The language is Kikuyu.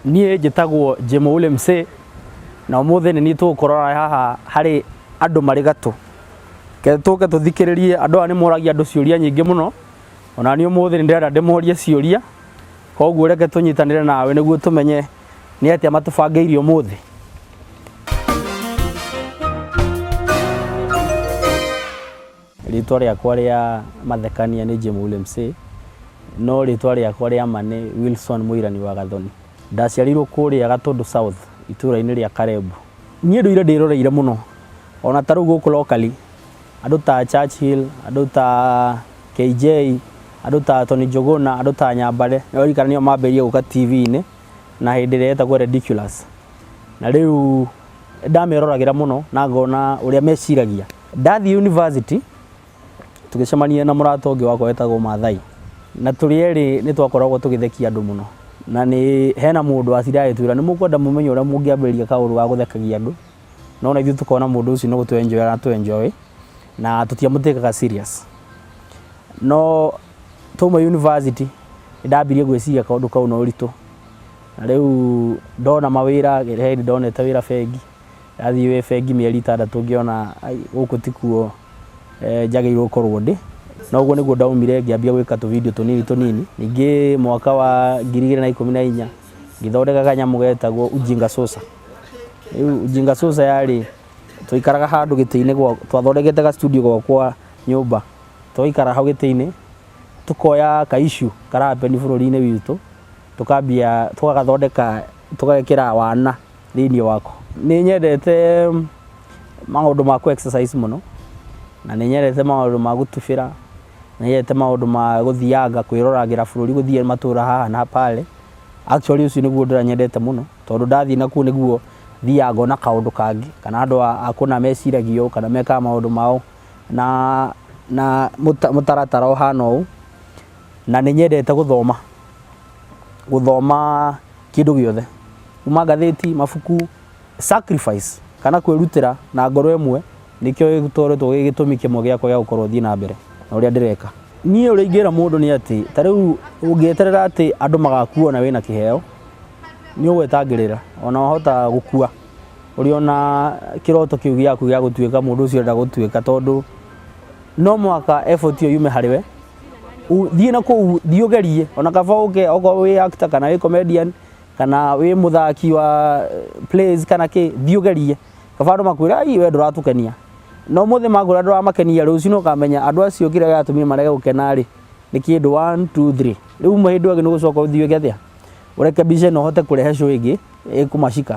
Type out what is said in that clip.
Niĩ njĩtagwo Jemo Ule Msee, na ũmũthĩ nĩ niĩ tũgũkorora haha harĩ andũ marĩ gatũ. Reke tũke tũthikĩrĩrie andũ aya nĩ moragia andũ ciũria nyingĩ mũno, ona niĩ ũmũthĩ nĩ ndĩrenda ndĩmorie ciũria, koguo reke tũnyitanĩre nawe nĩguo tũmenye nĩ atĩa matũbangĩire ũmũthĩ. Rĩĩtwa rĩakwa rĩa mathekania nĩ Jemule Msee, no rĩĩtwa rĩakwa rĩa ma nĩ Wilson Mũirani wa Gathoni. Ndaciarĩirwo kũũrĩa Gatũndũ South, itũũra-inĩ rĩa Karebu. Niĩ ndũire ndĩĩroreire mũno, o na ta rĩu gũkũ locally, andũ ta Churchill, andũ ta KJ, andũ ta Tony Njũgũna, andũ ta Nyambare, nĩ ũraririkana nĩo maambĩrĩirie gũka TV-inĩ na hĩndĩ ĩrĩa yetagwo Rediculous. Na rĩu nĩ ndameroragĩra mũno na ngona ũrĩa meciragia. Ndathiĩ university, tũgĩcemania na mũrata ũngĩ wakwa wetagwo Mathai, na tũrĩ erĩ nĩ twakoragwo tũgĩthekia andũ mũno, na nĩ hena mũndũ watindaga agĩtwĩra nĩ mũkwenda mũmenye ũrĩa mũngĩambĩrĩria kaũndũ ga gũthekagia andũ, no ona ithuĩ tũkona mũndũ ũcio nĩ gũtũ enjoy aratũ enjoy, na tũtia mũ take ga serious. No twauma university, nĩ ndambirie gwĩciria kaũndũ kau na ũritũ, na rĩu ndona mawĩra, he hĩndĩ ndonete wĩra bengi. Ndathiĩ wĩ bengi mĩeri itandatũ ngĩona gũkũ tikuo njagĩrĩirwo gũkorwo ndĩ. Na ũguo nĩguo ndaumire ngĩambia gwĩka tũ video tũnini tũnini. Ningĩ mwaka wa ngiri igĩrĩ na ikũmi na inya ngĩthondeka kanyamũ getagwo Ujinga Sosa. Rĩu Ujinga Sosa yarĩ twaikaraga handũ gĩtĩ-inĩ gwakwa, twathondekete ga studio gwakwa nyũmba. Tũgaikara hau gĩtĩ-inĩ tũkoya ka issue kara happen bũrũri-inĩ witũ tũkambia, tũgagathondeka tũgekĩra wana. thĩinĩ wako. Nĩ nyendete maũndũ ma kũ exercise mũno, na nĩ nyendete maũndũ ma gũtubĩra, nĩ nyendete maũndũ ma gũthianga kwĩroragĩra bũrũri gũthiĩ matũra haha na pale. Actually ũcio nĩguo ũndũ ũrĩa nyendete mũno, tondũ ndathiĩ nakuo nĩguo thiaga ngona kaũndũ kangĩ, kana andũ a kũna meciragia ũũ, kana mekaga maũndũ mao na na mũtaratara ũhana ũũ. Na nĩ nyendete gũthoma, gũthoma. kĩndũ gĩothe kuma ngathĩti mabuku sacrifice kana kwĩrutĩra na ngoro ĩmwe nĩkĩo gĩtoretwo gĩ gĩtũmi kĩmwe gĩakwa gĩa gũkorwo thiĩ na mbere na ũrĩa ndĩreka niĩ ũrĩa ingĩra mũndũ nĩ atĩ ta rĩu ũngĩeterera atĩ andũ magakuona wĩna kĩheo nĩ ũgwetangĩrĩra ona wahota gũkua ũrĩ ona kĩroto kĩu gĩaku gĩa gũtuĩka mũndũ ũcio ũrenda gũtuĩka tondũ no mũhaka effort ĩyo yume harĩ we. U- thiĩ na kũu thiĩ ũgerie ona kaba ũke okorwo wĩ actor kana wĩ comedian kana wĩ mũthaki wa eh, plays kana kĩ thiĩ ũgerie kaba andũ makwĩra "Ai, we ndũratũkenia na ũmũthĩ makwĩra ndũramakenia rũciũ nĩ ũkamenya andũ acio kĩrĩa gĩatũmire marege gũkena rĩ nĩ kĩndũ 1 2 3 rĩu uma hĩndĩ ĩyo ĩngĩ nĩ gũcoka ũthiĩ ũge atĩa ũreke mbica ĩno ũhote kũrehe show ĩngĩ ĩkũmacika